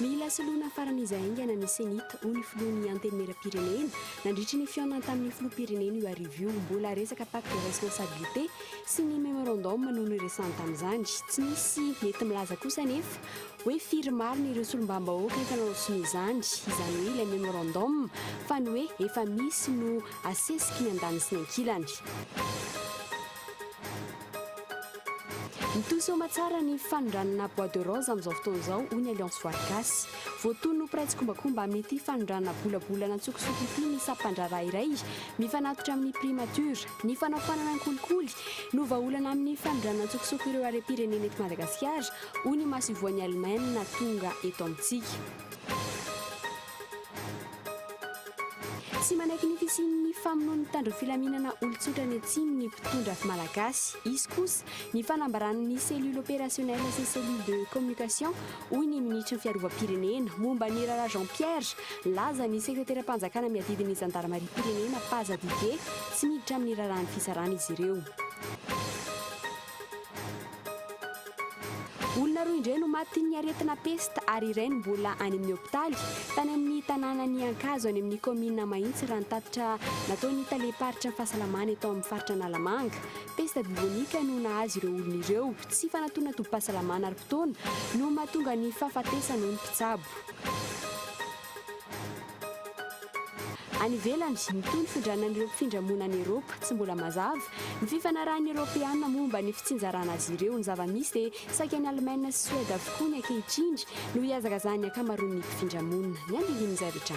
Mila soloina faran'iza haingana ny CENI-T, hoy ny filohan'ny Antenimieram-pirenena. Nandritry ny fihaonany tamin'ny filoham-pirenena io hariva io. Mbola resaka pacte de responsabilité sy ny memorandum no niresahany tamin'izany. Tsy nisy nety milaza kosa anefa hoe firy marina ireo solombambahoaka efa nanao sonia izany, izany hoe ilay memorandum, fa ny hoe efa misy no asesiky ny andaniny sy ny ankilany. Mitohy soamatsara ny fanondranana bois de rose amin'izao fotoana izao, hoy ny Alliance Voary Gasy. Voatono ho mpiray tsikombakomba amin'ity fanondranana bolabolana an-tsokosoko ity ny sampan-draharaha iray mifanatitra amin'ny Primature. Ny fanaofanana ny kolikoly no vahaolana amin'ny fanondranana an-tsokosoko ireo harem-pirenena eto Madagasikara, Hoy ny Masivoan'i Alemaina tonga eto amintsika. Tsy manaiky ny fisian'ny famonoan'ny mpitandro filaminana olon-tsotra any atsimo ny mpitondra Malagasy. Hisy kosa ny fanambaran'ny Cellule Opérationnelle sy Cellule de Communication, hoy ny Minisitry ny Fiarovam-pirenena, momba ny Raharaha Jean Pierre. Nilaza ny Sekreteram-panjakana miadidy ny Zandarimariam-pirenena, Paza Didier, tsy miditra amin'ny raharahan'ny fisarana izy ireo. Olona roa indray no matin'ny aretina pesta ary iray no mbola any amin'ny hopitaly. Tany amin'ny tanànan'i Ankazo any amin'ny kaominina Mahitsy raha ny tatitra nataon'ny talem-paritry ny fahasalamana eto amin'ny faritra Analamanga. Pesta bibonika no nahazo ireo olona ireo. Tsy fanantonana tobim-pahasalamana ara-potoana no mahatonga ny fahafatesana hoy ny mpitsabo. Any ivelany, mitohy ny findranan'ireo mpifindra monina any Eropa. Tsy mbola mazava ny fifanarahan'ny Eropeana momba ny fitsinjarana azy ireo. Ny zava-misy dia saika any Alemaina sy Soeda avokoa ny ankehitriny no hihazakazahan'ny ankamaroan'ny mpifindra monina. Ny andininy zavtra.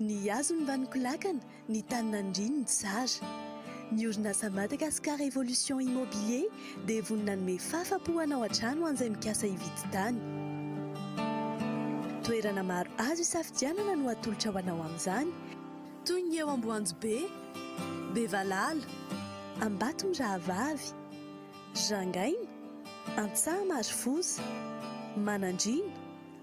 Ny hazony mba nikolakana, ny tany nandriany tsara. Ny orinasa Madagascar Evolution Immobilier dia vonona hanome fahafa-po hanao hatrany ho an'izay mikasa hividy tany. Toerana maro azo isafidianana no atolotra ho anao amin'izany, toy ny eo Amboanjobe, Bevalala, Ambatomirahavavy, Rangaina, Antsaha Marofosa, Manandriana,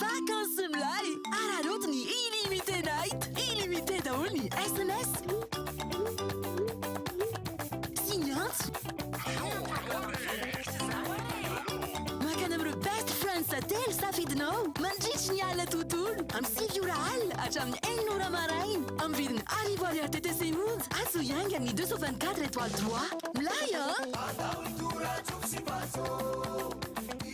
Vacances milay! Araraoty ny Illimité Night! Illimité daholo ny sms sy ny antso. Makana amin'ireo best friends telo safidinao mandritry ny alina tontolo, amin'ny sivy ora alina hatramin'ny enina ora maraina, amin'ny vidiny arivo ariary TTC monja. Azo hiainga amin'ny deux cent vingt quatre étoiles trois. Milay an!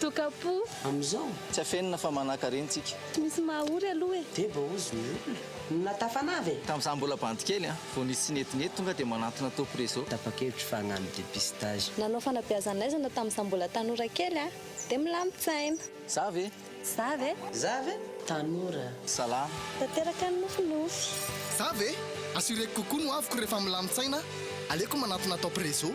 Toka-po. Amin'izao. Tsy afenina fa manakarena tsika. Tsy misy maha ory aloha e. Dia baozy ny olona. Na tafanava e. Tamin'izaho mbola bandy kely an. Vao nisy tsy nety nety tonga dia manantona top reseau. Tapa-kevitra fa hagnano dépistage. Nanao fanabeazan'aizana tamin'izaho mbola tanora kely an. Dia milamin-tsaina. Za ve? Za ve? Za ve? Tanora. Salama. Tanteraka ny nofinofy. Za ve? Assureko kokoa ny hoaviko rehefa milamin-tsaina aho. Aleoko manantona top reseau.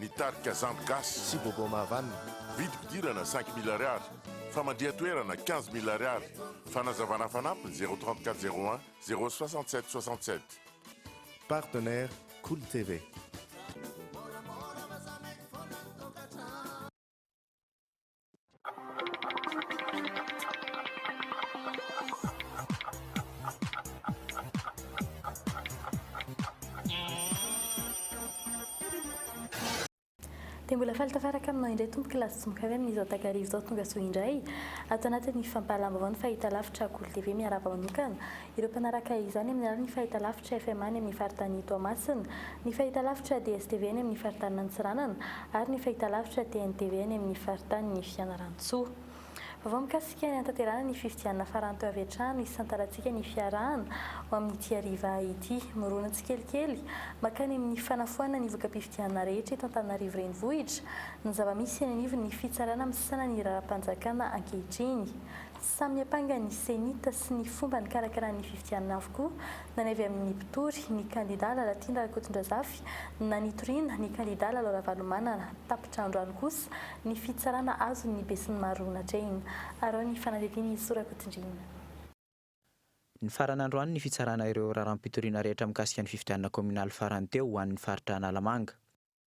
Ny tarika Zandry Gasy. Sy Bobo Mahavanona. Vidim-pidirana cinq mille ariary, famandrihan-toerana quinze mille ariary, fanazavana fanampiny zéro trente quatre zéro un zéro soixante sept soixante sept. Partenaires, Cool TV. Dia mbola faly tafaraka aminao indray tompo kilasy tsy mokavy amin'izao takariva izao tonga soa indray ato anatin'ny fampahalalam-baovao ny fahitalavitra Akolo TV miarahaba manokana Ireo mpanaraka izany amin'ny alalan'ny fahitalavitra FMA any amin'ny faritanin'i Toamasina, ny fahitalavitra DSTV any amin'ny faritanin'i Antsiranana ary ny fahitalavitra TNTV any amin'ny faritanin'i Fianarantsoa. Vaovao mikasika ny hanatanterahana ny fifidianana farany teo avy hatrany isantarantsika ny fiarahana ho amin'ity hariva ity. Mirona tsikelikely mankany amin'ny fanafoanana ny voka-pifidianana rehetra eto Antananarivo Renivohitra ny zava-misy eny anivon'ny Fitsarana misesana ny Raharaham-panjakana ankehitriny. Samy niampanga ny CENI-T sy ny fomba nikarakarany ny fifidianana avokoa na ny avy amin'ny mpitory, ny kandidà Lalatiana Rakotondrazafy, na nitoriana, ny kandidà Lalao Ravalomanana. Tapitra androany kosa ny fitsarana azon'ny besinimaro natrehina. Araho ny fanadihadian'i Soa Rakotondriana. Nifarana androany ny fitsarana ireo raharaham-pitoriana rehetra mikasika ny fifidianana kaominaly farany teo ho an'ny faritra Analamanga.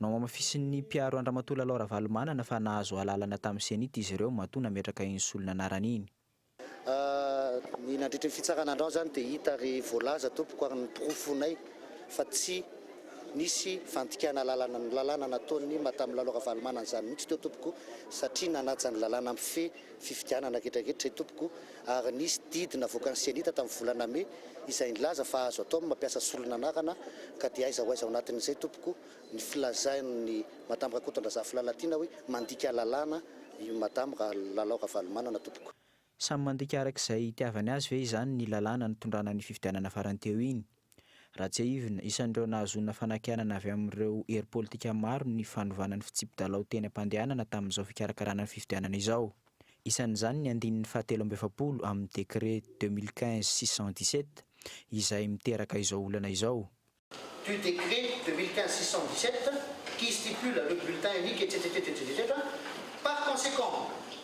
Nohamafisin'ny mpiaro an-dRamatoa Lalao Ravalomanana fa nahazo alalana tamin'ny Cenit izy ireo matoa nametraka iny solona anarany iny. Ny nandritra ny fitsarana andrao izany dia hita ary voalaza tompoko ary noporofoinay fa tsy nisy fandikana lalana ny lalàna nataon'ny Madame Lalao Ravalomanana izany mihitsy teo tompoko satria nanaja ny lalàna mifehy fifidianana anketraketra izay tompoko ary nisy didy navoakan'ny Cenita tamin'ny volana Mai izay nilaza fa azo atao ny mampiasa solon'anarana ka dia aiza ho aiza ao anatin'izay tompoko ny filazain'i Madame Rakotondrazafin'i Lalatiana hoe mandika lalàna i Madame Lalao Ravalomanana tompoko. Samy mandika araka izay itiavany azy ve izany ny lalàna nitondrana ny fifidianana farany teo iny? Ratsiahivina, isan'ireo nahazoana fanakianana avy amin'ireo hery politika maro ny fanovana ny fitsipi-dalao teny am-pandehanana tamin'izao fikarakarana ny fifidianana izao. Isan'izany ny andininy fahatelo amby efapolo amin'ny décret deux mille quinze six cent dix sept izay miteraka izao olana izao. du décret deux mille quinze six cent dix sept qui stipule le bulletin unique, etc, etc, etc, etc, par conséquent,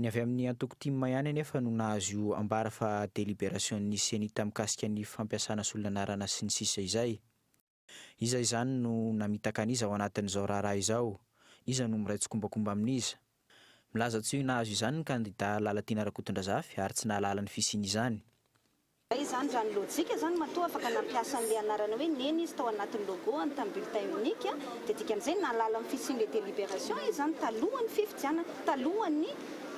Ny avy amin'ny antoko tim ihany anefa no nahazo io ambara fa deliberasion'ny Cenita mikasika ny fampiasana solon'anarana sy ny sisa izay. Iza izany no namitaka an'iza ao anatin'izao raharaha izao? Iza no miray tsikombakomba amin'iza? Milaza tsy ho nahazo izany ny kandida Lalatiana Rakotondrazafy ary tsy nahalala ny fisian'izany. Raha izany raha ny lojika izany matoa afaka nampiasa an'ilay anarana hoe neny izy tao anatin'ny logo-ny tamin'ny bulletin unique dia dikan'izay nahalala ny fisian'ilay délibération izy izany talohan'ny fifidianana, talohan'ny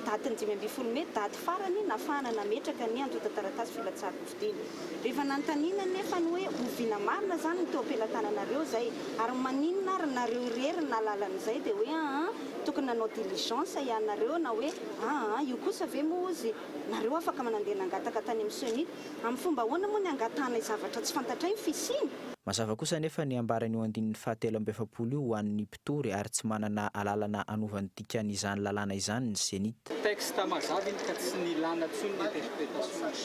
datin'ny dimy ambin'ny folo mey, daty farany nahafahana nametraka ny antontan-taratasy filatsahan-kofidina. Rehefa nanontaniana anefa ny hoe oviana marina izany ny teo am-pelatananareo izay ary maninona ary nareo irery no nahalala an'izay dia hoe aa tokony nanao diligence ianareo na hoe aa io kosa ve moa ozy Nareo afaka manandeha nangataka tany amin'ny ceni. Amin'ny fomba ahoana moa ny angatahanay zavatra tsy fantatray ny fisiany? Mazava kosa anefa ny ambaran'io andininy fahatelo amby efapolo io ho an'ny mpitory ary tsy manana alalana anova ny dikan'izany lalàna izany ny cenit. Texte mazava iny ka tsy nilana intsony ny interprétations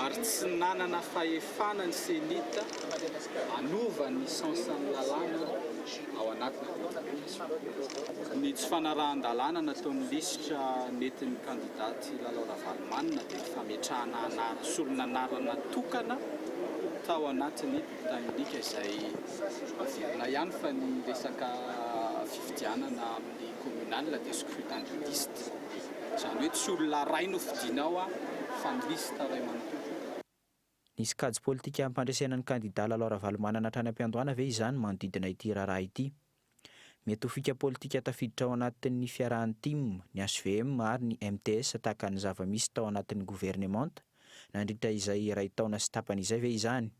ary tsy nanana fahefana ny cenit hanova ny sens-n'ny lalàna ao anatiny. Ny tsy fanarahan-dalàna nataon'ny lisitra nentin'ny kandida Ty Lalao Ravalomanana dia ny fametrahana anarana solon'anarana tokana tao anatin'ny bulletin unique izay averina ihany fa ny resaka fifidianana amin'ny communal dia scrutin de liste izany hoe tsy olona iray no fidiana ao fa ny lisitra iray manontolo. Nisy kajy politika hampandresena ny kandidà Lalao Ravalomanana hatrany am-piandohana ve izany manodidina ity raharaha ity? Mety ho fika politika tafiditra ao anatin'ny fiarahan'ny tim, ny hvm ary ny MTS tahaka ny zava-misy tao anatin'ny governemanta nandritra izay iray taona sy tapany izay ve izany?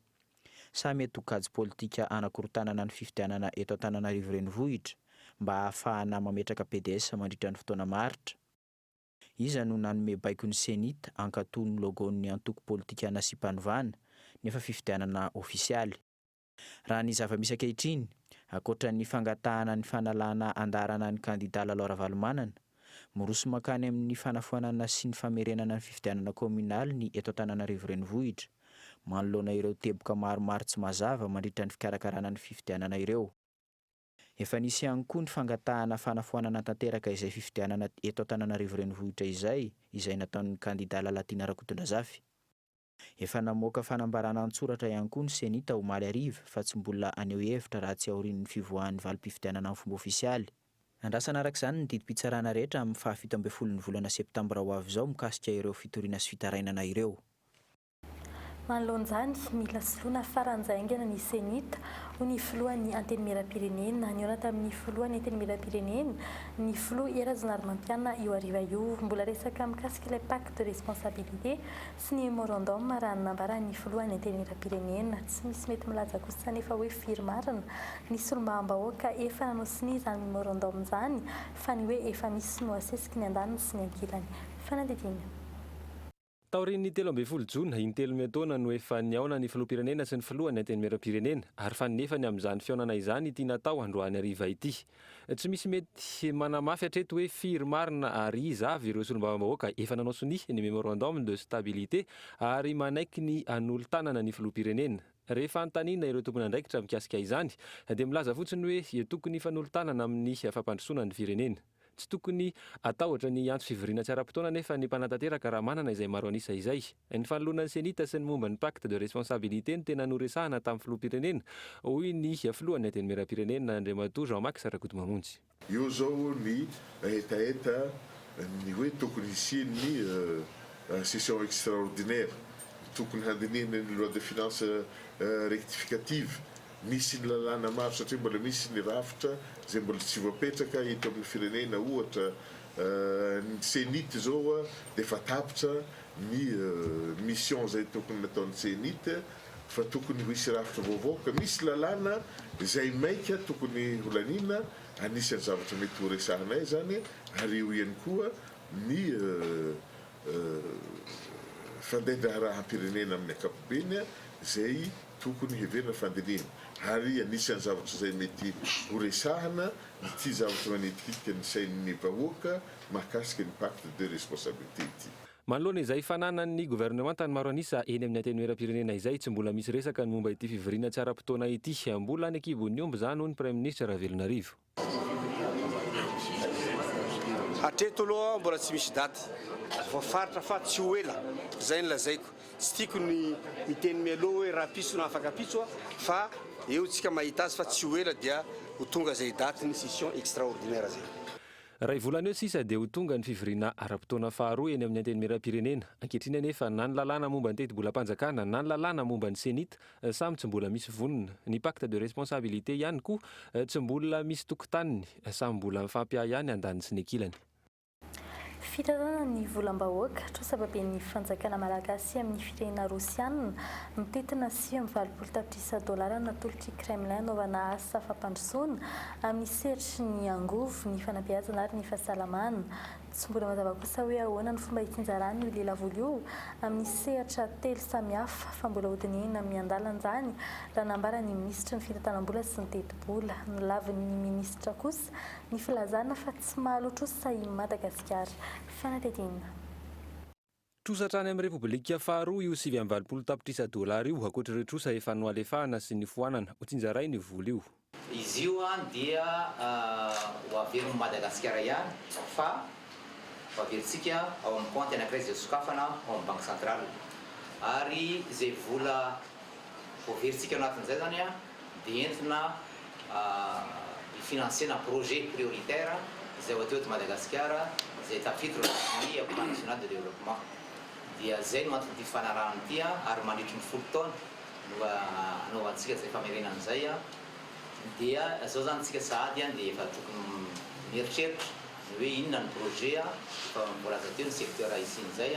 Sa mety ho kajy politika hanakorontanana ny fifidianana eto Antananarivo Renivohitra mba hahafahana mametraka PDS mandritra ny fotoana maharitra? Iza no nanome baiko ny Cenit hankatò ny logo-n'ny antoko politika nasiam-panovana, nefa fifidianana ofisialy? Raha ny zava-misy ankehitriny, ankoatra ny fangatahana ny fanalana andaharana ny kandidà Lalao Ravalomanana, miroso mankany amin'ny fanafoanana sy ny famerenana ny fifidianana kaominaly ny eto Antananarivo Renivohitra, manoloana ireo teboka maromaro tsy mazava mandritra ny fikarakarana ny fifidianana ireo. Efa nisy ihany koa ny fangatahana fanafoanana tanteraka izay fifidianana eto Antananarivo Renivohitra izay, izay nataon'ny kandida Lalatiana Rakotondrazafy. Efa namoaka fanambarana an-tsoratra ihany koa ny Ceni tao omaly hariva fa tsy mbola haneho hevitra raha tsy aorian'ny fivoahan'ny valim-pifidianana amin'ny fomba ofisialy. Andrasana araka izany ny didim-pitsarana rehetra amin'ny fahafito ambin'ny folon'ny volana septambra ho avy izao mikasika ireo fitoriana sy fitarainana ireo. Manoloana izany, mila soloina faran'izay haingana ny Cenit, hoy ny filohan'ny Antenimierampirenena. Nihaona tamin'ny filohan'ny Antenimierampirenena ny filoha I Rajaonarimampianina io hariva io. Mbola resaka mikasika ilay pacte de responsabilité sy ny memorandum raha ny nambaran'ny filohan'ny Antenimierampirenena. Tsy misy mety milaza kosa anefa hoe firy marina ny solombavambahoaka efa nanao sonia izany memorandum izany fa ny hoe efa misy no asesiky ny andaniny sy ny ankilany. Fanadihadiana. Taorian'ny telo ambin'ny folo jona, intelo miantaona no efa nihaona ny filoham-pirenena sy ny filohan'ny antenimieram-pirenena, ary fa nefany amin'izany fihaonana izany ity natao androany hariva ity. Tsy misy mety manamafy hatreto hoe firy marina ary iza avy ireo solombavambahoaka efa nanao sonia ny memorandum de stabilité ary manaiky ny hanolo-tanana ny filoham-pirenena. Rehefa antanina ireo tompon'andraikitra mikasika izany dia milaza fotsiny hoe tokony hifanolo-tanana amin'ny fampandrosoana ny firenena. Tsy tokony hatahotra ny hiantso fivoriana tsy ara-potoana anefa ny mpanatanteraka raha manana izay maro an'isa izay. Ny fanoloana ny CENI-T sy ny momba ny Pacte de responsabilité no tena noresahana tamin'ny filoham-pirenena, hoy ny filohan'ny Antenimierampirenena, Andriamatoa Jean Max Rakotomamonjy. Eo izao ny hetaheta ny hoe tokony hisian'ny session extraordinaire, tokony handinihana ny loi de finances rectificative. Misy ny lalàna maro satria mbola misy ny rafitra izay mbola tsy voapetraka eto amin'ny firenena ohatra ny cenit izao dia efa tapitra ny mission izay tokony nataon'ny cenit fa tokony hisy rafitra vaovao ka misy lalàna izay maika tokony holaniana anisan'ny zavatra mety horesahanay izany ary eo ihany koa ny fandaindraharaham-pirenena amin'ny ankapobeny izay Tokony heverina fandinihina ary anisan'ny zavatra izay mety horesahana ity zavatra manitikitika ny sain'ny vahoaka mahakasika ny pacte de responsabilité ity. Manoloana izay fananan'ny governemanta ny maro an'isa eny amin'ny antenimieram-pirenena izay, tsy mbola misy resaka ny momba ity fivoriana tsy ara-potoana ity. Mbola any an-kibon'ny omby izany, hoy ny praiminisitra Ravelonarivo. Hatreto aloha mbola tsy misy daty voafaritra fa tsy ho ela, zay no lazaiko. Tsy tiako ny miteny mialoha hoe rahampitso na afaka ampitso a! fa eo tsika mahita azy fa tsy ho ela dia ho tonga zay daty ny session extraordinaire zay. Ray volana eo sisa dia ho tonga ny fivoriana ara-potoana faharoa eny amin'ny Antenimierampirenena. Ankehitriny anefa na ny lalàna momba ny teti-bolam-panjakana na ny lalàna momba ny Cenit Samy tsy mbola misy vonona. Ny pacte de responsabilité ihany koa tsy mbola misy tokotaniny. Samy mbola mifampiahy ihany andaniny sy ny ankilany. Fitanana ny volam-bahoaka, trosababen'ny fanjakana malagasy amin'ny firenena rosianina, mitentina sivy amby valopolo tapitrisa dolara natolotr'i Kremlin hanaovana asa fampandrosoana amin'ny sehatry ny angovo, ny fanabeazana ary ny fahasalamana. Tsy mbola mazava kosa hoe ahoana ny fomba hitsinjaran'io lelavola io amin'ny sehatra telo samihafa fa mbola hodinihina miandalan'izany raha nambara ny minisitry ny fitantanam-bola sy ny tetibola. Nolavin'ny minisitra kosa ny filazana fa tsy mahaloa trosa i Madagasikara. Fanadihadiana. Trosa hatrany amin'ny Repoblika faharoa io sivy amby valopolo tapitrisa dolara io, ankoatr'ireo trosa efa nohalefahana sy nifoanana. Hotsinjaray ny vola io. Izy io dia ho averin'i Madagasikara ihany fa ho averintsika ao amin'ny kaonty anankiray izay sokafana ao amin'ny Banky Centrale. Ary izay vola voaferintsika ao anatin'izay izany, dia entina hifinansiana projet prioritaire izay hoateo eto Madagasikara izay tafiditra ao anatin'ny Plan National de Développement. Dia izay no anton'ity fifanarahana ity ary mandritry ny folo taona no hanaovantsika izay famerenana izay. Dia izao izany isika sahady dia efa tokony mieritreritra ny hoe inona ny projet efa voalaza teo ny secteur hisian'izay.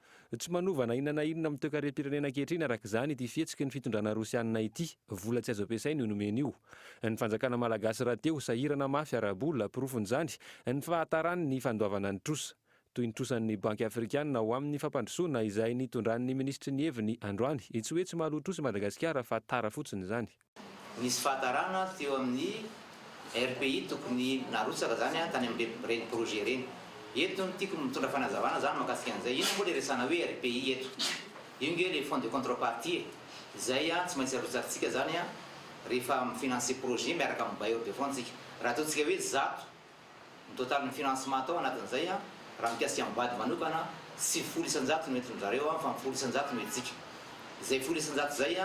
Tsy manova na inona na inona amin'ny toekarem-pirenena ankehitriny araka izany ity fihetsiky ny fitondrana rosianina ity. Vola tsy azo ampiasaina io nomeny io. Ny fanjakana malagasy rahateo sahirana mafy ara-bola, porofon'izany ny fahatarany ny fandoavana ny trosa. Toy ny trosan'ny banky afrikana ho amin'ny fampandrosoana izay nitondran'ny minisitry ny heviny androany. Tsy hoe tsy mahaloa trosa i Madagasikara fa tara fotsiny izany. Nisy fahatarana avy teo amin'ny RPI tokony narotsaka izany an tany amin'ireny projet ireny. Eto no tiako mitondra fanazavana zany mahakasika an'izay. Inona moa ilay resahana hoe RPI eto? Io nge ilay fonds de contrepartie e! Izay an tsy maintsy arotsakintsika izany an rehefa mi-financer projet miaraka amin'ny bailleur de fonds tsika. Raha ataontsika hoe zato Ny totalin'ny financement atao anatin'izay, raha mikasika ny bad manokana, sivifolo isan-jato no entin-dry zareo fa ny folo isan-jato no entintsika. Izay folo isan-jato izay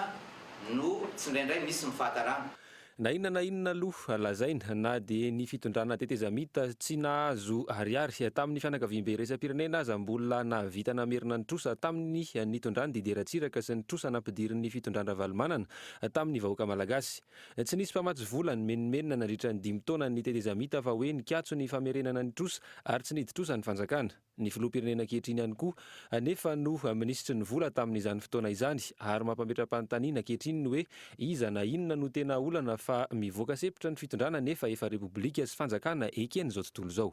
no tsindraindray misy ny fahatarana. Na inona na inona aloha lazaina, na dia ny fitondrana tetezamita tsy nahazo ariary tamin'ny fianakaviambe iraisam-pirenena aza mbola nahavita namerina ny trosa tamin'ny nitondran'i Didier Ratsiraka sy ny trosa nampidirin'ny fitondran-dRavalomanana tamin'ny vahoaka malagasy. Tsy nisy mpamatsy vola nimenomenona nandritra ny dimy taona ny tetezamita fa hoe nikatso ny famerenana ny trosa ary tsy nidi-trosa ny fanjakana. Ny filoham-pirenena ankehitriny ihany koa anefa no minisitry ny vola tamin'izany fotoana izany ary mampametra-panontaniana ankehitriny ny hoe iza na inona no tena olana fa mivoaka sepotra ny fitondrana nefa efa repoblika sy fanjakana eken'izao tontolo izao.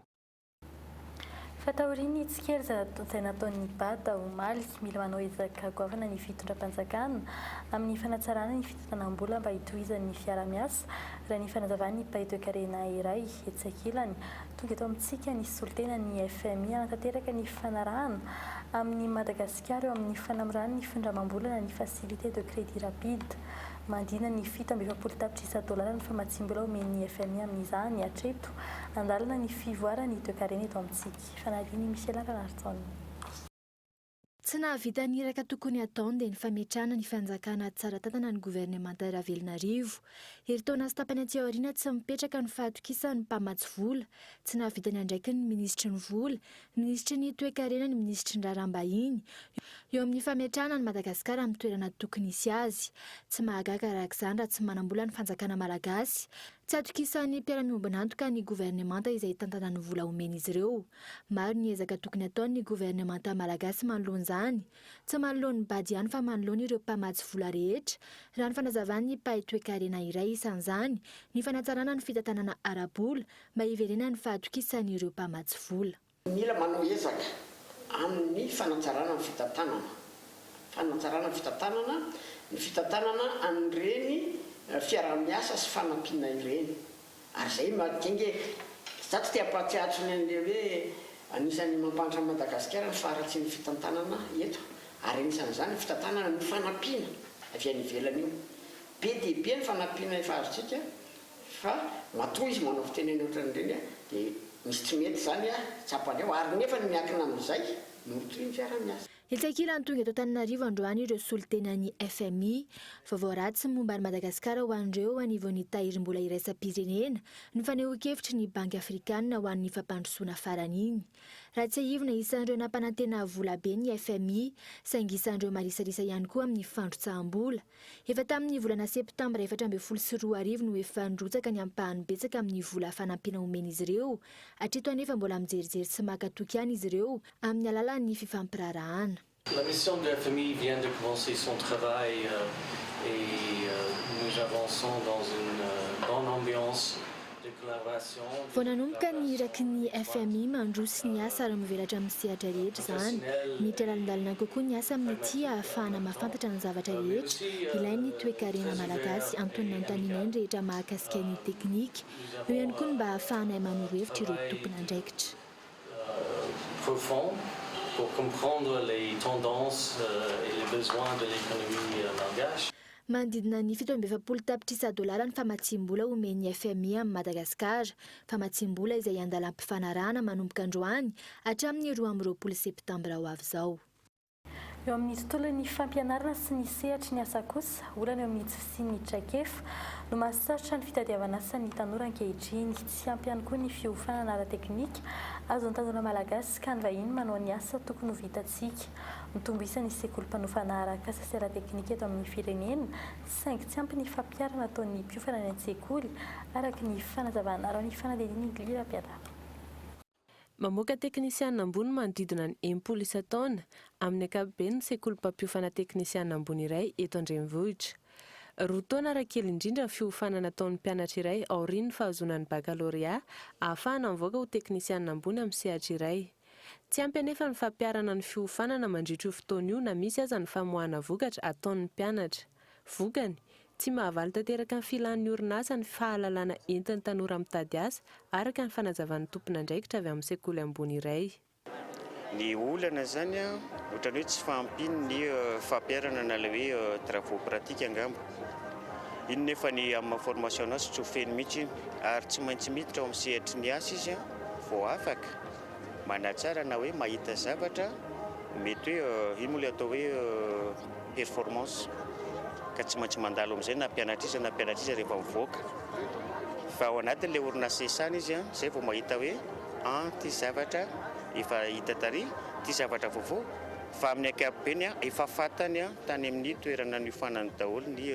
Fa taorian'ny tsikeriza izay nataon'ny Bada omaly, mila manao ezaka goavana ny fitondram-panjakana amin'ny fanatsarana ny fitantanam-bola mba hitohizan'ny fiarahamiasa, raha ny fanazavan'ny mpahetoekarena iray etsy ankilany. Tonga eto amintsika ny solontenan'ny fmi hanatanteraka ny fanarahana amin'i Madagasikara eo amin'ny fanamorany ny findramam-bolana ny Facilité de Crédit Rapide. Mandina ny fito amby efapolo tapitrisa dolara ny famatsiam-bola omen'ny fmi amin'izany hatreto. An-dalana ny fivoaran'ny toekarena eto amintsika. Fanadin'i Michela Ranarison. Tsy nahavita ny iraka tokony hataony dia ny fametrahana ny fanjakana tsara tantana ny governemanta Ravelonarivo. Herintaona sy tapany aty aoriana tsy mipetraka ny fahatokisan'ny mpamatsy vola. Tsy nahavita ny andraikiny ny minisitry ny vola, Minisitry ny Toekarena ny Minisitry ny Raharaham-bahiny, eo amin'ny fametrahana an'i Madagasikara amin'ny toerana tokony hisy azy. Tsy mahagaga araka izany raha tsy manam-bola ny fanjakana malagasy. Tsy atokisan'ny mpiara-miombon'antoka ny governemanta izay hitantana ny vola omen'izy ireo. Maro ny ezaka tokony hataon'ny governemanta malagasy manoloana izany. Tsy manoloan'ny bad ihany fa manoloana ireo mpamatsy vola rehetra, raha ny fanazavan'ny mpahay toekarena iray. Isan'izany ny fanatsarana ny fitantanana ara-bola Mba hiverenan'ny fahatokisan'ireo mpamatsy vola. Mila manao ezaka amin'ny fanatsarana ny fitantanana, fanatsarana ny fitantanana, ny fitantanana an'ireny fiaraha-miasa sy fanampiana ireny. Ary izay mahatonga e! Izaho tsy te hampahatsiahatra ny an'ilay hoe anisan'ny mampahantra an'i Madagasikara ny faharatsian'ny fitantanana eto, ary anisan'izany ny fitantanana ny fanampiana avy any ivelany io. Be dia be ny fanampiana efa azontsika Fa matoa izy manao fitenenana ohatran'ireny a, dia misy tsy mety izany a, tsapany ao, ary nefa ny miankina amin'izay, morotoy ny fiaraha-miasa. Hilankilany tonga eto Antananarivo androany ireo solontenan'ny fmi. Vaovao ratsy momba an'i Madagasikara ho an'ireo eo anivon'ny tahirim-bola iraisam-pirenena ny fanehoan-kevitry ny Banky Afrikanina ho an'ny fampandrosoana faran'iny. Ratsiahivina isan'ireo nampanantena volabe ny fmi, saingy isan'ireo marisarisa ihany koa amin'ny fandrotsaham-bola. Efa tamin'ny volana septambra efatra ambin'ny folo sy roa arivo no efa nirotsaka ny ampahany betsaka amin'ny vola fanampiana omen'izy ireo. Hatreto anefa mbola mijerijery sy maka toky ihany izy ireo amin'ny alalan'ny fifampiraharahana. La mission de la famille vient de commencer son travail et nous avançons dans une bonne ambiance. Vao nanomboka ny iraky ny fmi mandroso ny asa ary mivelatra amin'ny sehatra rehetra izany. Miditra lalindalina kokoa ny asa amin'ity ahafahana mahafantatra ny zavatra rehetra ilain'ny toekarena malagasy antonona anotanianay ny rehetra mahakasika ny teknika. Eo ihany koa ny mba hahafahanay manoro hevitra ireo tompon'andraikitra. Manodidina ny fito amby efapolo tapitrisa dolara ny famatsiam-bola omen'ny fmi amin'i Madagasikara, famatsiam-bola izay andalam-pifanarahana manomboka androany hatramin'ny roa amby roapolo septambra ho avy izao. Eo amin'ny tontolon'ny fampianarana sy ny sehatry ny asa kosa, olana eo amin'ny tsy fisian'ny traikefa no mahasarotra ny fitadiavan'asa ny tanora ankehitriny. Tsy ampy ihany koa ny fiofanana ara-teknika azon'ny tanora malagasy ka ny vahiny manao ny asa tokony ho vita Isika. Mitombo isa ny sekoly mpanofana arak'asa sy ara-teknika eto amin'ny firenena, saingy tsy ampy ny fampiharana ataon'ny mpiofana any an-tsekoly, araka ny fanazavana raha ny fanadihadian'i Gly Rapiadapa. Mamoaka teknisiana ambony manodidina ny enimpolo isan-taona, amin'ny ankapobeny ny sekoly mpampiofana teknisiana ambony iray eto an-drenivohitra. Roa taona raha kely indrindra ny fiofanana ataon'ny mpianatra iray aorian'ny fahazoana ny bakalorea, ahafahana mivoaka ho teknisiana ambony amin'ny sehatra iray. Tsy ampy anefa ny fampiharana ny fiofanana mandritra io fotoana io na misy aza ny famoahana vokatra ataon'ny mpianatra. Vokany, tsy mahavaly tanteraka ny filan'ny orinasa ny fahalalana entin'ny tanora mitady asa, araka ny fanazavan'ny tompon'andraikitra avy amin'ny sekoly ambony iray. Ny olana izany ohatran'ny hoe tsy fahampian'ny ny fampiharana na ilay hoe travaux pratiques angamba. Iny nefa ny amin'ny maha formation anazy tsy ho feno mihitsy iny ary tsy maintsy miditra ao amin'ny sehatry ny asa izy vao afaka. Manatsara na hoe mahita zavatra, mety hoe io moa ilay atao hoe performance ka tsy maintsy mandalo amin'izay na mpianatr'iza na mpianatr'iza rehefa mivoaka fa ao anatin'ilay orinasa isany izy an, izay vao mahita hoe an ity zavatra efa hita tary, ity zavatra vaovao fa amin'ny ankapobeny an efa fantany an tany amin'ny toerana niofanany daholo ny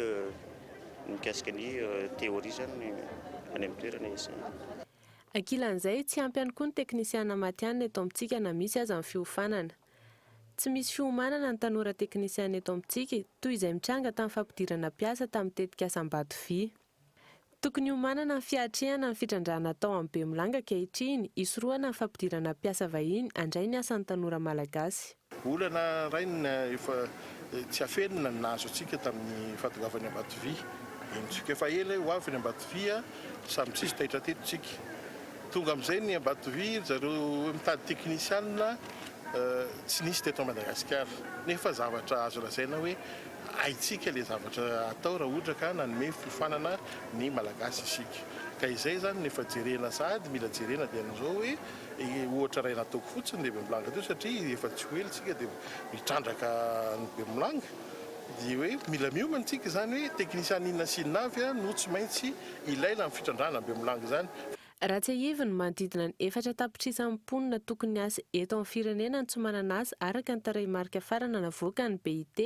mikasika ny theorie izany any amin'ny toerana iasany. Ankilan'izay, tsy ampy ihany koa ny teknisiana matihanina eto amintsika na misy aza ny fiofanana. Tsy misy fiomanana ny tanora teknisiana eto amintsika, toy izay mitranga tamin'ny fampidirana mpiasa tamin'ny tetikasa Ambato Vy. Tokony hiomanana ny fiatrehana ny fitrandrahana atao amin'ny Bemolanga ankehitriny, hisorohana ny fampidirana mpiasa vahiny handray ny asan'ny tanora malagasy. Olana iray ny efa tsy afenina ny nahazo antsika tamin'ny fahatongavan'i Ambatovy eny Tsiko. Efa ela hoe ho avy ny Ambatovy a! Samy tsy hisy taitra teto tsika. Tonga amin'izay ny Ambatovy, ry zareo mitady teknisianina tsy nisy teto Madagasikara. Nefa zavatra azo lazaina hoe haintsika ilay zavatra atao raha ohatra ka nanome fiofanana ny Malagasy isika. Ka izay izany no efa jerena sahady mila jerena dia an'izao hoe. Ohatra iray nataoko fotsiny ny Bemblanga teo satria efa tsy ho ela isika dia mitrandraka ny Bemblanga dia hoe mila miomana isika izany hoe teknisiana inona sy inona avy no tsy maintsy ilaina amin'ny fitrandrahana ny Bemblanga izany. Raha tsiahivy ny manodidina ny efatra tapitrisa ny mponina tokony hiasa eto amin'ny firenena no tsy manana asa araka ny tarehimarika farana navoakan'ny BIT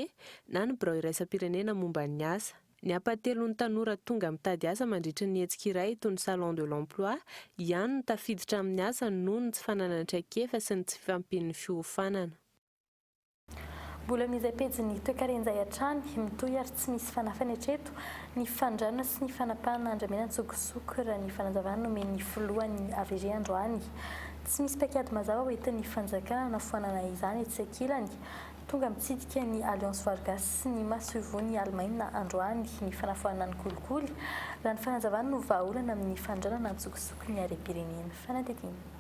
na ny Birao Iraisam-pirenena momba ny asa. Ny hampahatelon'ny tanora tonga mitady asa mandritra ny hetsika iray toy ny Salon de l'emploi ihany no tafiditra amin'ny asa noho ny tsy fananany traikefa sy ny tsy fifampian'ny fiofanana. Mbola amin'izay pejin'ny toekaren'izay hatrany, mitohy ary tsy misy fanafany hatreto ny fandrana sy ny fanapahana andramena an-tsokosoko, raha ny fanazavana nomen'ny filohan'ny hvg androany. Tsy misy paikady mazava hoentin'ny fanjakana hanafoanana izany etsy sy ankilany, Tonga mitsidika ny Alliance Vargas sy ny masoivohon'i Alemaina androany ny fanafoanana ny kolikoly, raha ny fanazavana no vahaolana amin'ny fanondranana an-tsokosoko ny harem-pirenena. Fanadihadiana.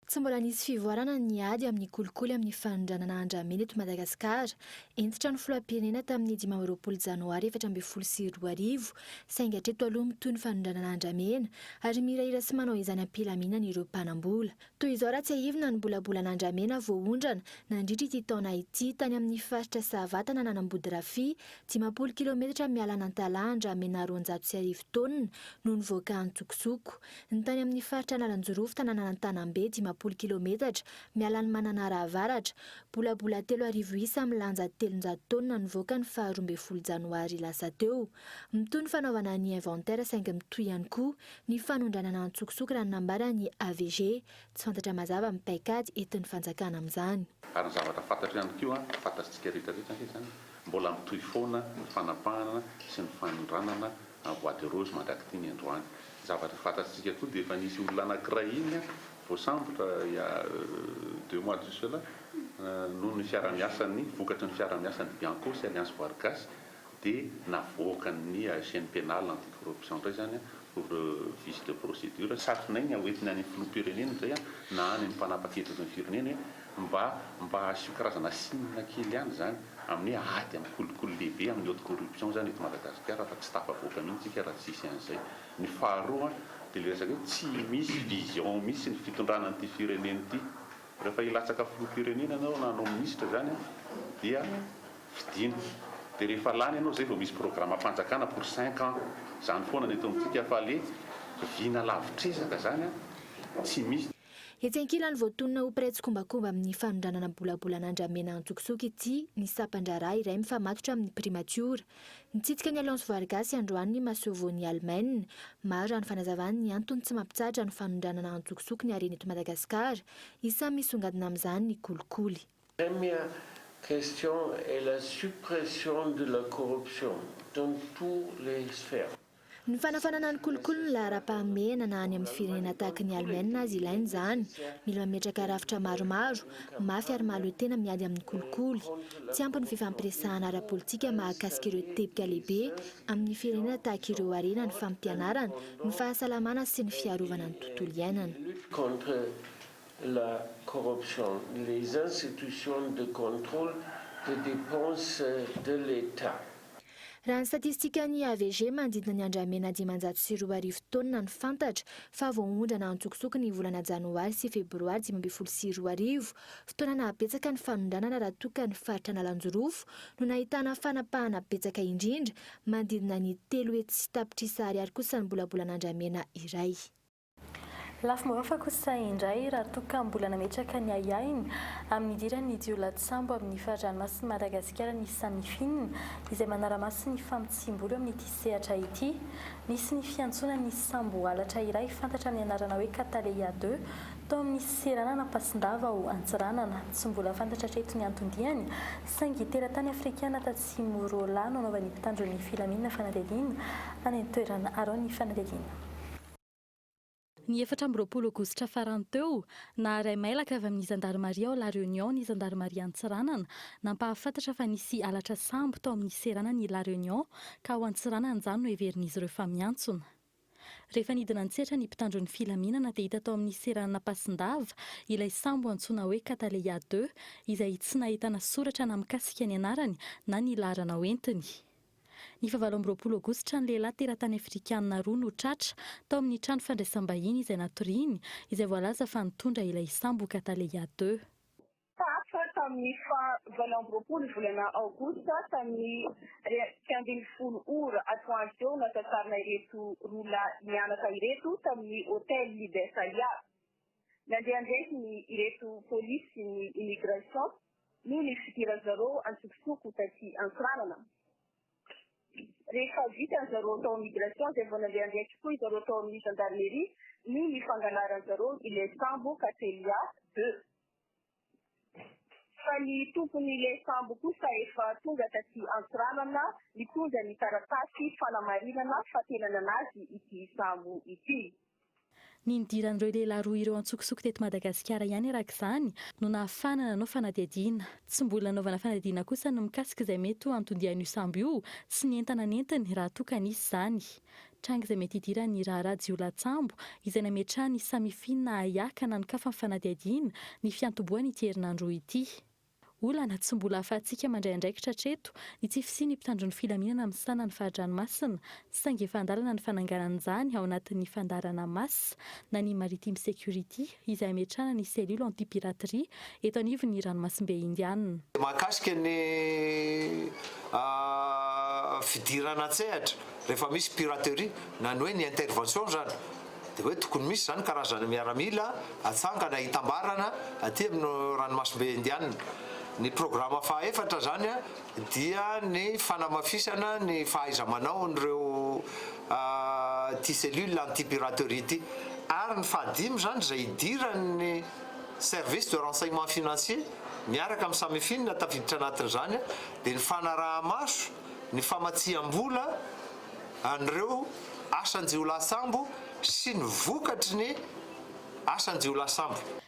Tsy mbola nisy fivoarana ny ady amin'ny kolikoly amin'ny fanondranana andramena eto Madagasikara. Hentitra ny filoham-pirenena tamin'ny dimy amby roapolo janoary efatra ambin'ny folo sy roa arivo, saingy hatreto aloha mitohy ny fanondranana andramena, ary mihirahira sy manao izany am-pilaminana ireo mpanam-bola. Toy izao raha tsiahivina ny bolabolan'Andramena voaondrana nandritra ity taona ity tany amin'ny faritra Sahavatan an'Anambodirafia, dimampolo kilometatra miala an'Antalaha Andramena roanjato sy arivo taonina no nivoaka antsokosoko. Ny tany amin'ny faritra Analanjirofo tananan'Antanambe dimampolo kilometatra miala an'i Mananara Avaratra, bolabola telo arivo isa milanja telonjato taonina nivoaka ny faha roa ambin'ny folo janoary lasa teo. Mitohy ny fanaovana ny inventaire saingy mitohy ihany koa ny fanondranana an-tsokosoko raha ny nambaran'ny AVG. Tsy fantatra mazava ny paikady entin'ny fanjakana amin'izany. Ary ny zavatra fantatro ihany koa, fantatsika rehetra rehetra ange izany, mbola mitohy foana ny fanapahana sy ny fanondranana an'i Bois de Rose mandrak'itiny androany. Ny zavatra fantatsika koa dia efa nisy olona anankiray iny voasambotra il y a deux mois de cela noho ny fiarahamiasan'ny, vokatry ny fiarahamiasan'ny Bianco sy Alliance Voary Gasy dia navoakan' ny Haitienne Penale Anti Corruption indray izany pour vice de procédure, satrina iny hoentina any amin'ny Filoham-pirenena izay na any amin'ny mpanapaka hevitra eto amin'ny firenena hoe mba mba asio karazana signe kely ihany izany amin'ny hoe ady amin'ny kolikoly lehibe amin'ny haute corruption izany eto Madagasikara fa tsy tafavoaka mihitsy isika raha tsisy an'izay. Ny faharoa dia ilay resaka hoe tsy misy vision mihitsy ny fitondrana an'ity firenena ity. Rehefa hilatsaka filoham-pirenena ianao na hanao minisitra izany dia fidiana. Dia rehefa lany ianao izay vao misy programam-panjakana pour cinq ans. Izany foana ny eto amintsika fa le vina lavitr'ezaka izany tsy misy. Etsy ankilany voatonona ho mpiray tsikombakomba amin'ny fanondranana bolabolan'Andriamena Antsokisoky ity ny sampan-draharaha iray mifamatotra amin'ny primatiora. Nitsidika ny Alliance Voarigasy androany ny masoivohon'i Almain. Maro raha ny fanazavany ny antony tsy mampitsahatra ny fanondranana antsokosoko ny harena eto Madagasikara. Isan'ny misongadina amin'izany ny kolikoly. Première question est la suppression de la corruption dans tous les sphères. Ny fanafanana ny kolikoly ny laharam-pahamehana na any amin'ny firenena tahaka ny Alemaina aza ilaina izany. Mila mametraka rafitra maromaro, mafy ary mahaloa tena miady amin'ny kolikoly. Tsy ampy ny fifampiresahana ara-politika mahakasika ireo teboka lehibe amin'ny firenena tahaka ireo harena ny fampianarana, ny fahasalamana sy ny fiarovana ny tontolo iainana. Raha ny statistikan'ny AVG manodidina ny andramena dimanjato sy roa arivo taonina no fantatra fa voaondrana antsokosoko ny volana janoary sy febroary dimy ambin'ny folo sy roa arivo, fotoana nahabetsaka ny fanondranana raha toa ka ny faritra Analanjirofo no nahitana fanapahana betsaka indrindra, manodidina ny telo hetsy sy tapitrisa ariary kosa ny bolabolan'andramena iray. Lafy marofa kosa indray raha toa ka mbola nametraka ny ahiahiny amin'ny idiran'ny jiolahy-tsambo amin'ny fari-dranomasin'i Madagasikara ny Samifin, izay manara-maso ny famotsiam-bola eo amin'ity sehatra ity. Nisy ny fiantsoana ny sambo halatra iray fantatra amin'ny anarana hoe Cataleya deux tao amin'ny seranana Ampasindava ao Antsiranana. Tsy mbola fantatra hatreto ny anton-diany saingy teratany afrikana tatsimo Rola no anaovan'ny mpitandro ny filaminana fanadihadiana any an-toerana arao ny fanadihadiana. Ny efatra amby roapolo aogositra farany teo, naharay mailaka avy amin'ny zandarimaria ao La Réunion ny zandarimaria Antsiranana, nampahafantatra fa nisy halatra sambo tao amin'ny seranan'i La Réunion ka ao Antsiranana izany no heverin'izy ireo fa miantsona. Rehefa nidina an-tsehatra ny mpitandro ny filaminana dia hita tao amin'ny seranan'Ampasindava ilay sambo antsoina hoe Cataleya deux izay tsy nahitana soratra na mikasika ny anarany na ny laharana hoentiny. Ny fahavalo amby roapolo Aogositra, ny lehilahy teratany afrikana roa no tratra tao amin'ny trano fandraisam-bahiny izay natoriany, izay voalaza fa nitondra ilay sambo Cataleya ii. Tratra tamin'ny faha valo amby roapolo volana Aogositra tamin'ny iray amby ny folo ora atoandro teo no nasatsarina ireto roa lahy mianaka ireto tamin'ny Hotel Libertalia. Nandeha an-draikiny ireto polisy ny Immigration noho ny fidiran-dry zareo antsokosoko taty Antsiranana. Rehefa vita ry zareo tao amin'ny Immigration izay vao nandeha an-draikitry koa ry zareo tao amin'ny Gendarmerie noho ny fangalaran-dry zareo ilay sambo Cattleya deux. fa ny tompon'ile sambo kosa efa tonga taty Antsiranana nitondra ny taratasy fanamarinana fa tena nanazy ity sambo ity. Ny nidiran'ireo lehilahy roa ireo antsokosoko teto Madagasikara ihany araka izany no nahafahana nanao fanadihadiana. Tsy mbola nanaovana fanadihadiana kosa ny mikasika izay mety ho anton-dian'io sambo io sy ny entana nentiny raha toa ka nisy izany. Tranga izay mety hidiran'ny raharaha jiolahy-tsambo izay nametrahany samifina hiaka nanokafany ny fanadihadiana ny fiantombohan' ity herinandro roa ity. Olana tsy mbola ahafahantsika mandray andraikitra hatreto ny tsy fisian'ny mpitandron'ny filaminana misana ny fari-dranomasina saingy efa an-dalana ny fananganana izany ao anatin'ny fandaharana Mas na ny Maritime Security. izay hametrahana ny Cellule anti-piraterie eto anivon'ny ranomasimbe Indianina. Mahakasika ny fidirana an-tsehatra rehefa misy piraterie na ny hoe ny intervention izany dia hoe tokony misy izany karazana miaramila atsangana hitambarana aty amin'ny ranomasimbe Indianina. Ny programa fahaefatra izany dia ny fanamafisana ny fahaiza-manaon'ireo ity cellule anti-piraterie ity ary ny fahadimy izany izay idiran'ny service de renseignement financier miaraka amin'ny Samifin tafiditra anatin'izany dia ny fanaraha-maso ny famatsiam-bola an'ireo asan-jiolahy sambo sy ny vokatry ny asan-jiolahy sambo.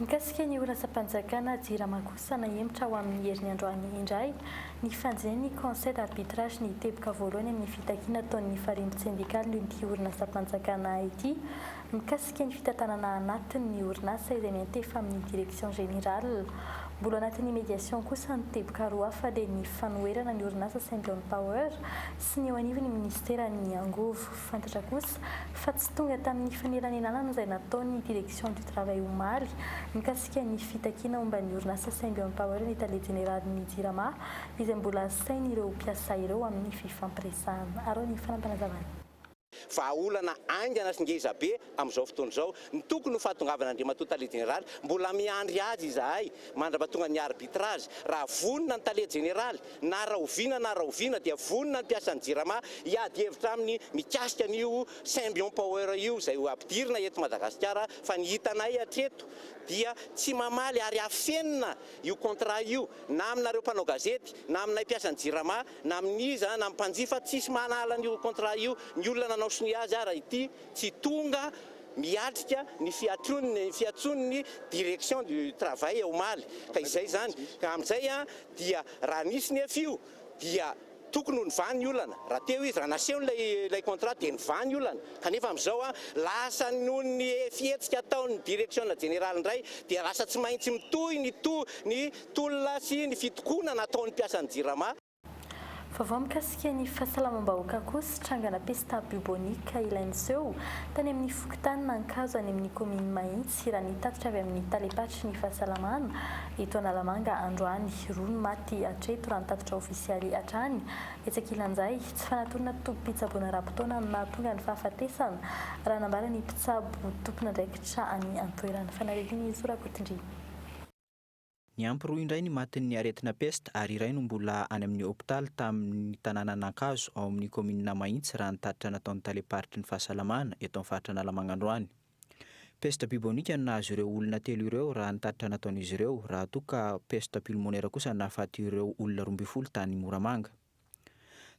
Mikasika ny horatsam-panjakana Jirama kosa nahemotra ho amin'ny herin'ny androany indray ny fanjin'ny Conseil d'arbitrage ny teboka voalohany amin'ny fitakiana ataon'ny Farembotsendikalin'ity horinasam-panjakana ity mikasika ny fitantanana anatiny ny orinasa izay miantefa amin'ny Direction générale. Mbola anatin'ny médiation kosa ny teboka roa hafa dia ny fanoherana ny orinasa Saint John Power sy ny eo anivon'ny Ministeran'ny Angovo. Fantatra kosa fa tsy tonga tamin'ny fanelanelana izay nataony ny Direction du travail omaly mikasika ny fitakiana momba ny orinasa saingy eo am-pahaoela ny tale jeneralin'ny Jirama izay mbola asain'ireo mpiasa ireo amin'ny fifampiresahana. Arao ny fanampanazavan'i. Vahaolana haingana sy ngezabe Amin'izao fotoana izao, ny tokony ho fahatongavan'Andriamatoa Tale Jeneraly, mbola miandry azy izahay, mandrapatonga ny arbitrage, raha vonona ny Tale Jeneraly, na rahoviana na rahoviana dia vonona ny mpiasan'ny Jirama hiady hevitra aminy mikasika an'io Symbion Power io izay ho ampidirina eto Madagasikara fa ny hitanay hatreto dia tsy mamaly ary afenina io contrat io na aminareo mpanao gazety na aminay mpiasan'ny Jirama na amin'iza na amin'ny mpanjifa tsisy manala an'io contrat io, ny olona nanao sonia azy ara ity. Tsy tonga miatrika ny fiatrony ny fiantsony ny direction du travail omaly ka izay izany ka amin'izay dia raha nisy ny efa io dia tokony ho nivaha ny olana raha teo izy raha naseho ilay ilay contrat dia nivaha ny olana kanefa amin'izao lasa noho ny fihetsika ataon'ny direction jeneraly indray dia lasa tsy maintsy mitohy ny to- ny tolona sy ny fitokonana ataon'ny mpiasan'ny jirama Vaovao mikasika ny fahasalamam-bahoaka kosa, trangana pesta biobonika ilay niseho tany amin'ny fokontany Nankazo any amin'ny kaominina Mahitsy raha ny tatitra avy amin'ny talem-paritry ny fahasalamana eto Analamanga androany, roa no maty hatreto raha ny tatitra ofisialy hatrany etsy ankilan'izay, tsy fanatonana tobim-pitsaboana ara-potoana no nahatonga ny fahafatesana raha nambara ny mpitsabo tompon'andraikitra any an-toerana. Fanaritin'i Zo Rakotondriana. Niampy roa indray ny matin'ny aretina pesta ary iray no mbola any amin'ny hopitaly tamin'ny tanànan'Ankazo ao amin'ny kaominina Mahitsy raha ny tatitra nataon'ny talem-paritry ny fahasalamana eto amin'ny faritra Analamanga androany. Pesta bibonika no nahazo ireo olona telo ireo raha ny tatitra nataon'izy ireo raha toa ka pesta pulmonaire kosa nahafaty ireo olona roa ambin'ny folo tany Moramanga.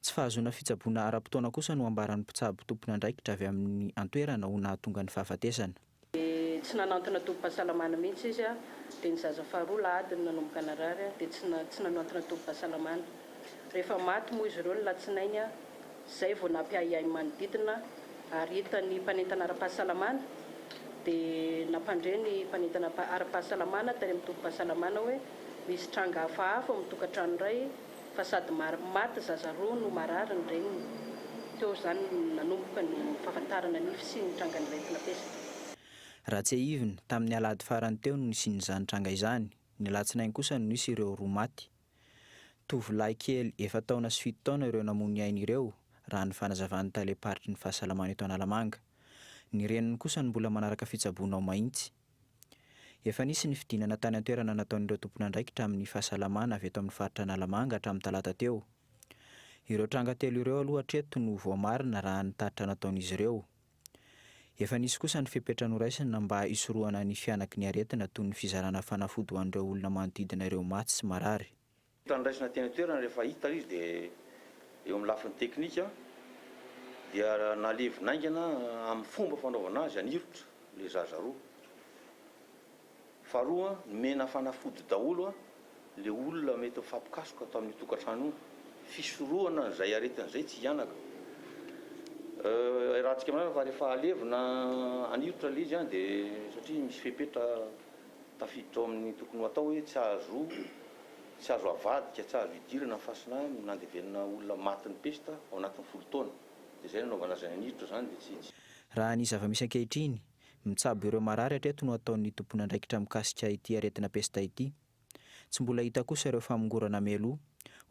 Tsy fahazoana fitsaboana ara-potoana kosa no ambaran'ny mpitsabo tompon'andraikitra avy amin'ny an-toerana ho nahatonga ny fahafatesana. Dia tsy nanantona tobim-pahasalamana mihitsy izy dia ny zaza faharoa lahady no nanomboka narary dia tsy tsy nanantona tobim-pahasalamana. Rehefa maty moa izy ireo ny latsinainy izay vao nampiahiahy ny manodidina ary hitan'ny mpanentana ara-pahasalamana dia nampandre ny mpanentana ara-pahasalamana tany amin'ny tobim-pahasalamana hoe misy tranga hafahafa ao amin'ny tokantrano iray fa sady maty zaza roa no marary ny reniny. Teo izany no nanomboka ny fahafantarana ny fisian'ny trangan'iretina pesta. Raha tsiahivina, tamin'ny alahady farany teo no nisian'izany tranga izany, ny alatsinainy kosa no nisy ireo roa maty. Tovolahy kely efa-taona sy fito taona ireo namoy ny ainy ireo, raha ny fanazavan'ny talem-paritry ny fahasalamana eto Analamanga. Ny reniny kosa no mbola manaraka fitsaboana ao Mahitsy. Efa nisy ny fidinana tany an-toerana nataon'ireo tompon'andraikitra amin'ny fahasalamana avy eto amin'ny faritra Analamanga hatramin'ny talata teo. Ireo tranga telo ireo aloha hatreto no voamarina raha ny tatitra nataon'izy ireo. Efa nisy kosa ny fepetra noraisina mba hisorohana ny fihanaky ny aretina toy ny fizarana fanafody ho an'ireo olona manodidina ireo maty sy marary. Tandraisina teny an-toerana rehefa hita ilay izy dia eo amin'ny lafiny teknika dia nalevina haingana amin'ny fomba fanaovana azy anirotra ilay zaza roa. Faharoa, nomena fanafody daholo ilay olona mety mifampikasoka tao amin'io tokantrano io, fisorohana an'izay aretina izay tsy hihanaka. Iarahantsika aminareo fa rehefa alevina anirotra ilay izy dia satria misy fepetra. Tafiditra ao amin'ny tokony ho atao hoe tsy azo tsy azo avadika, tsy azo idirana ny fasina no nandevenana olona matin'ny pesta ao anatin'ny folo taona. Dia izay no anaovana azy naniditra izany dia tsy Raha ny zava-misy ankehitriny, mitsabo ireo marary hatreto no ataon'ny tomponandraikitra mikasika ity aretina pesta ity. Tsy mbola hita kosa ireo famongorana mialoha,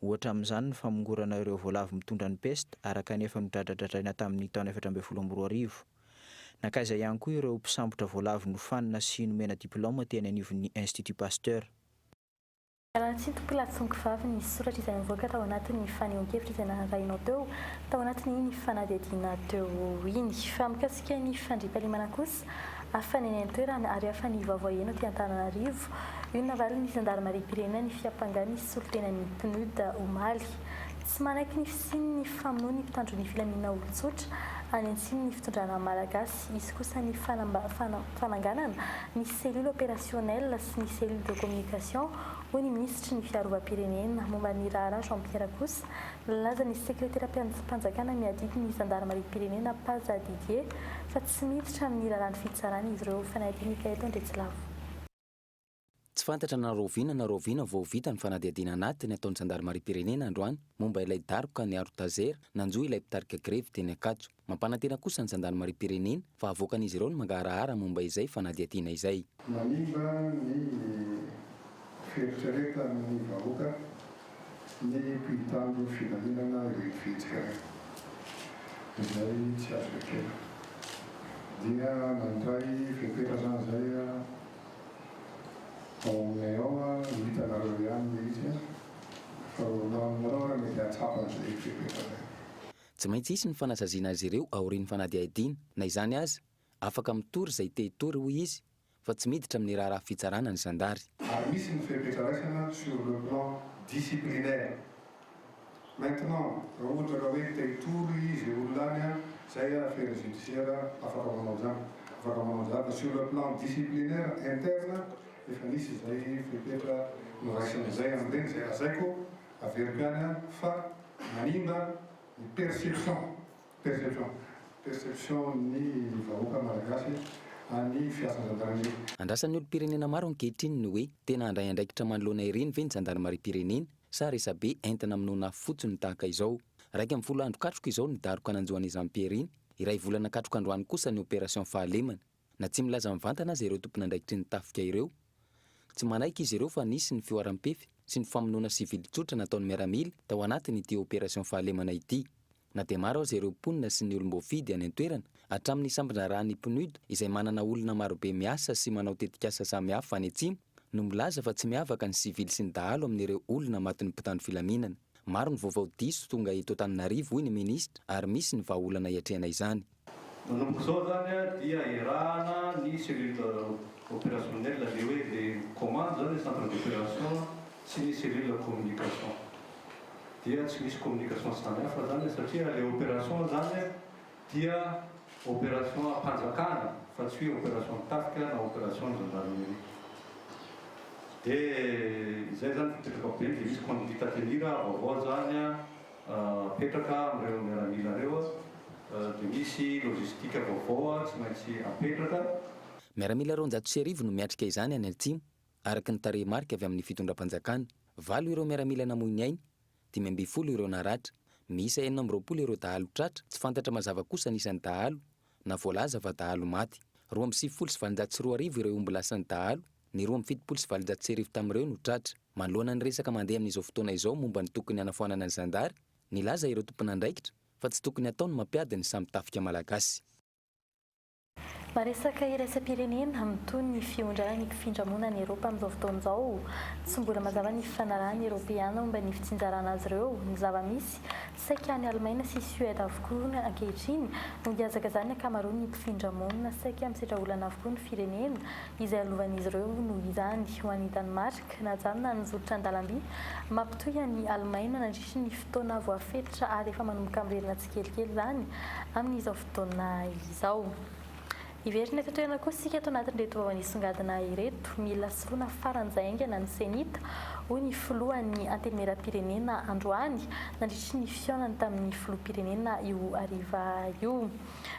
ohatra amin'izany ny famongorana ireo voalavo mitondra ny pesta araka ny efa nodradradradraina tamin'ny taona efatra ambin'ny folo amby roa arivo. Nankaiza ihany koa ireo mpisambotra voalavo nofanina sy nomena diplaoma teny anivon'ny Institut Pasteur. Iarahantsika mpila tsongo vavy ny soratra izay nivoaka tao anatin'ny fanehoan-kevitra izay narahinaao teo tao anatin'iny fanadihadiana teo iny. Fa mikasika ny fandriampahalemana kosa, hafa ny any an-toerana ary hafa ny vaovao heno aty Antananarivo. Io no navalin'ny zandarimariam-pirenena ny fiampangàn'ny solontenan'ny PNUD omaly. Tsy manaiky ny fisian' ny famonoan' ny mpitandro ny filaminana olon-tsotra any antsimon' ny fitondrana malagasy. Hisy kosa ny fananganana ny cellule opérationnelle sy ny cellule de communication, hoy ny minisitry ny Fiarovam-pirenena. Momba ny raharaha Jean Pierre kosa, nilaza ny sekreteram-panjakana miadidy ny zandarimariam-pirenena, Paja Didier, fa tsy miditra amin'ny raharahan'ny fitsarana izy ireo. Fanadin'Ikaeto Andriatsilavo. Tsy fantatra na rahoviana na rahoviana vao vita ny fanadihadiana anatiny ataon'ny zandarimariam-pirenena androany momba ilay daroka niaro Tazer nanjo ilay mpitarika grevy teny Ankatso. Mampanantena kosa ny zandarimariam-pirenena fa havoakan'izy ireo ny mangaharahara momba izay fanadihadiana izay. Manimba ny fieritreretan'ny vahoaka ny mpitandro filaminana ireny fihetsika ireny, izay tsy azo ekena. Dia nandray fepetra izany izay. Aminay ao a, ho hitanareo ihany le izy a, fa aminareo raha mety hahatsapa an'izay eritreretanay. Tsy maintsy hisy ny fanasaziana azy ireo aorian'ny fanadihadiana. Na izany aza, afaka mitory izay te hitory, hoy izy, fa tsy miditra amin'ny raharaha fitsarana ny zandary. Ary misy ny fepetra raisana sur le plan disciplinaire, Maintenant, raha ohatra ka hoe te hitory izy olona any an, zay a affaire judiciaire afaka manao zany, afaka manao zany fa sur le plan disciplinaire interne efa nisy izay fepetra noraisina zay an'ireny zay lazaiko averiko ihany an fa manimba ny perception, perception, perception ny vahoaka malagasy an'ny fiasan'ny gendarmerie. Andrasan'ny olom-pirenena maro ankehitriny ny hoe, tena handray andraikitra manoloana ireny ve ny zandarimariam-pirenena? Sa resabe entana aminona fotsiny tahaka izao? Iraika amby folo andro katroka izao ny daroka nanjo an'i Jean Pierre iny, iray volana katroka androany kosa ny opération fahalemana. Na tsy milaza mivantana aza ireo tompon'andraikitry ny tafika ireo, tsy manaiky izy ireo fa nisy ny fihoaram-pefy sy ny famonoana sivily tsotra nataon'ny miaramila tao anatin'ity opération fahalemana ity. Na dia maro aza ireo mponina sy ny olom-boafidy any an-toerana, hatramin'ny sambondraharahan'ny PNUD izay manana olona marobe miasa sy manao tetikasa samihafa any Atsimo, no milaza fa tsy miavaka ny sivily sy ny dahalo amin'ireo olona matin'ny mpitandro filaminana. Maro ny vaovao diso tonga eto Antananarivo, hoy ny minisitra, ary misy ny vahaolana iatrehana izany. Manomboka izao izany dia iarahana ny cellule opérationnelle, ilay hoe ilay commande izany hoe centre d'opération sy ny cellule communication. Dia tsy misy communication sy izany hafa izany satria ilay opération izany dia opération am-panjakana fa tsy hoe opération ny tafika na opération ny gendarmerie. Dia izay izany fipetrako be dia misy conduite à tenir vaovao izany. apetraka amin'ireo miaramila ireo dia misy logistique vaovao tsy maintsy apetraka. Miaramila roanjato sy arivo no miatrika izany any Atsimo, araka ny tarehimarika avy amin'ny fitondram-panjakana. Valo ireo miaramila namoy ny ainy, dimy ambin'ny folo ireo naratra. Miisa enina amby roapolo ireo dahalo tratra, tsy fantatra mazava kosa ny isan'ny dahalo na voalaza fa dahalo maty. Roa amby sivifolo sy valonjato sy roa arivo ireo omby lasan'ny dahalo, ny roa amby fitopolo sy valonjato sy arivo tamin'ireo no tratra. Manoloana ny resaka mandeha amin'izao fotoana izao momba ny tokony hanafoanana ny zandary, nilaza ireo tompon'andraikitra fa tsy tokony hatao ny mampiady ny samy tafika malagasy. Na resaka iraisam-pirenena, mitohy ny fihondrana ny mpifindramonina any Eropa amin'izao fotoana izao. Tsy mbola mazava ny fifanarahan'ny Eropeana momba ny fitsinjarana azy ireo, ny zava-misy, Saika any Alemaina sy Suède avokoa ankehitriny no hihazakazan'ny ankamaroan'ny mpifindra monina saika misedra olana avokoa ny firenena, izay halovan'izy ireo noho izany. Ho an'i Danemark, najanona ny zotra an-dalamby mampitohy an'i Alemaina nandritry ny fotoana voafetra ary efa manomboka miverina tsikelikely izany amin'izao fotoana izao. Hiverina eto an-toerana koa isika ato anatin'ireto vao nisongadina ireto. Mila soloina faran'izay haingana ny CENI-T, hoy ny filohan'ny Antenimierampirenena androany, nandritry ny fihaonany tamin'ny filoham-pirenena io hariva io,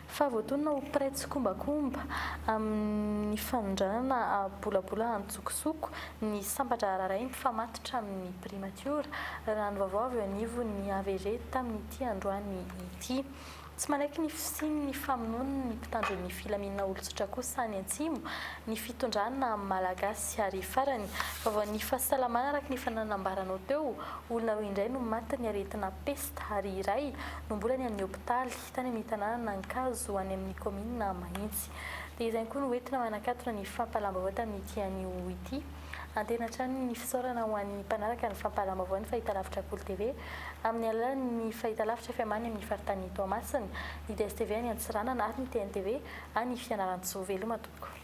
fa voatonona ho mpiray tsikombakomba amin'ny fanondranana bolabola an-tsokosoko ny sampan-draharaharay mifamatotra amin'ny primatiora, raha ny vaovao avy eo anivon'ny hvg tamin'ity androany ity. Tsy manaiky ny fisian'ny famonoana ny mpitandro ny filaminana olon-tsotra kosa any Antsimo ny fitondrana malagasy ary farany, vaovaon'ny fahasalamana araka ny efa nanambaranao teo, olona roa indray no matin'ny aretina pesta ary iray no mbola any amin'ny hopitaly tany amin'ny tanànan'Ankazo any amin'ny kaominina Mahintsy. Dia izany koa no entina manakatona ny fampahalam-baovao tamin'ity anio ity. Antehina hatrany ny fisaorana ho an'ny mpanaraka ny fampahalalam-baovao ny Fahitalavitra Kolo TV amin'ny alalan'ny Fahitalavitra FM any amin'ny faritany Toamasina, ny DSTV any Antsiranana ary ny TNTV any Fianarantsoa. Veloma tompoko.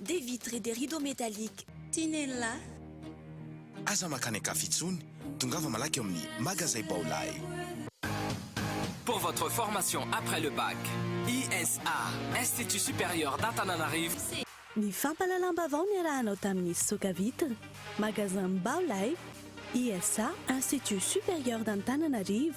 Des vitres et des rideaux métalliques Tinella. Aza makany an-kafa intsony, tongava malaky ao amin'ny Magazay Baolai. Pour votre formation après le bac, ISA, Institut Supérieur d'Antananarivo, Ny fampahalalam-baovao niarahanao tamin'ny Fisoka Vitres, Magasin Baolai, ISA, Institut Supérieur d'Antananarivo.